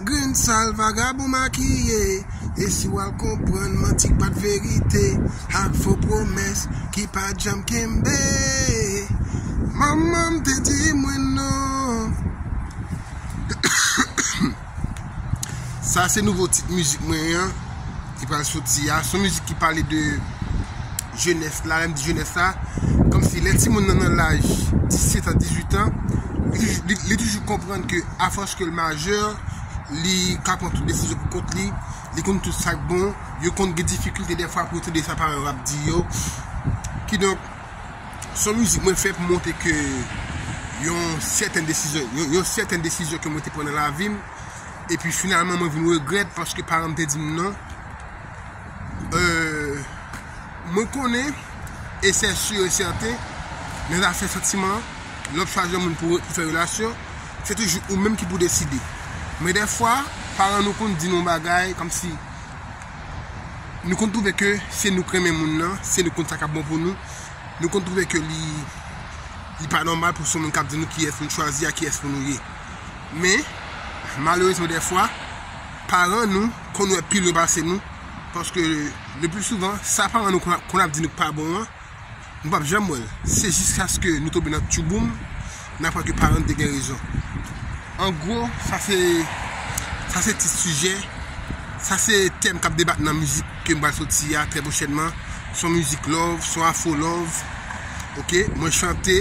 Grenn sal vagabon makiye e si wal konprann manti k pat verite ak fo pwomès ki pat janm kenbe Manman m te di mwen non Sa se nouvo tit mizik mwen an. ki pral soti a, son mizik ki pale de jenès la, lèm di jenès la, kòm si lè timoun nan nan laj 17 a 18 an, li toujou konprann ke afòs ke l majè, li ka pran tout desizyon pou kont li, li konn tout sak bon, yo konn gen difikilte defwa pou yo tande sa paran yo ap di yo, ki donk, son mizik mwen fè pou montre ke yon sèten desizyon, yon sèten desizyon ke mwen te pran nan lavi m, Epi finalman mwen vin regrèt paske paranm te dim non. Euh mwen konnen e sè sur e sèten nan zafè santiman lè wap chwazi yon moun pou fè relasyon se toujou ou menm ki pou deside. Men dèfwa paran nou konn di nou yon bagay kòmsi nou konn twouve ke se nou k renmen moun nan, se nou k konn sa kap bon pou nou, nou konn twouve ke li pa nòmal pou se yon moun kap di nou kiyès pou nou chwazi ak kiyès pou nou ye. Men, malerezman dèfwa, paran nou konn wè pi lwen pase nou, paske lepli souvan, sa paran nou konn ap di nou k pa bon an, nou pap janm wè l. Se jiskaske nou tonbe nan tyouboum, n aprann ke paran nou te gen rezon. An gwo, sa se, sa se tit sijè, sa se tèm k ap debat nan mizik ke m pral soti a trè pwochènman. S on mizik love, s on afro love, ok? Mwen chante.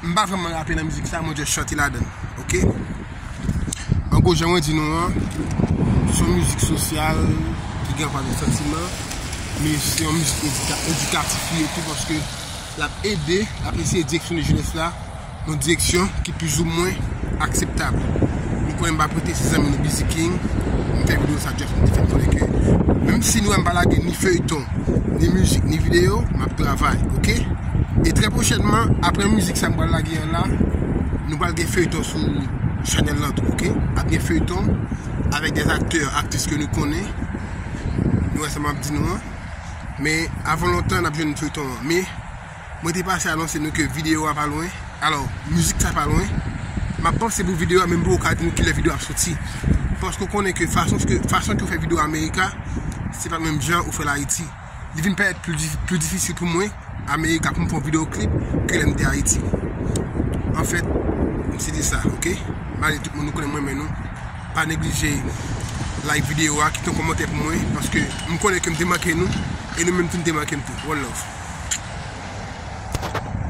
M pa vrèman rape nan mizik sa mwen just chante ladan l ok An gwo jan mwen di nou an se yon mizik sosyal ki gen anpil santiman men se yon mizik edikatif li ye tou paske l ap ede l ap eseye direksyone jenès la yon direksyon ki pizoumwen akseptab Nou konnen m pa prete se zanmi nou Bizi King m fè videyo sa just pou m te fè konnen ke menm si nou wè m pa lage ni feyton ni mizik ni videyo m ap travay ok. E trè pwochènman, aprè mizik sa m pral lage an la, nou pral gen feyton sou chanèl lan tou ok. Ap gen feyton avèk dè aktè, aktris ke nou konnen. Nou wè sa m ap di nou an. Men avan lontan n ap jwenn feyton an. Men mwen te pase anonse nou ke videyo a pa lwen. Alò, mizik sa pa lwen. M ap panse pou videyo a men m poko ka di nou kilè videyo a ap soti. Paske ou konnen ke fason ke ou fè videyo America, se pa menm jan ou fè l Ayiti. li vin parèt pli difisil pou mwen America pou m fè yon video clip ke lè m te Ayiti. An fèt, m se di sa, ok? Malgre tout moun nou konnen m renmen nou, pa neglije like video a, kite yon kòmantè pou mwen, paske m konnen ke m te manke nou, e nou menm tou n te manke m tou. One love.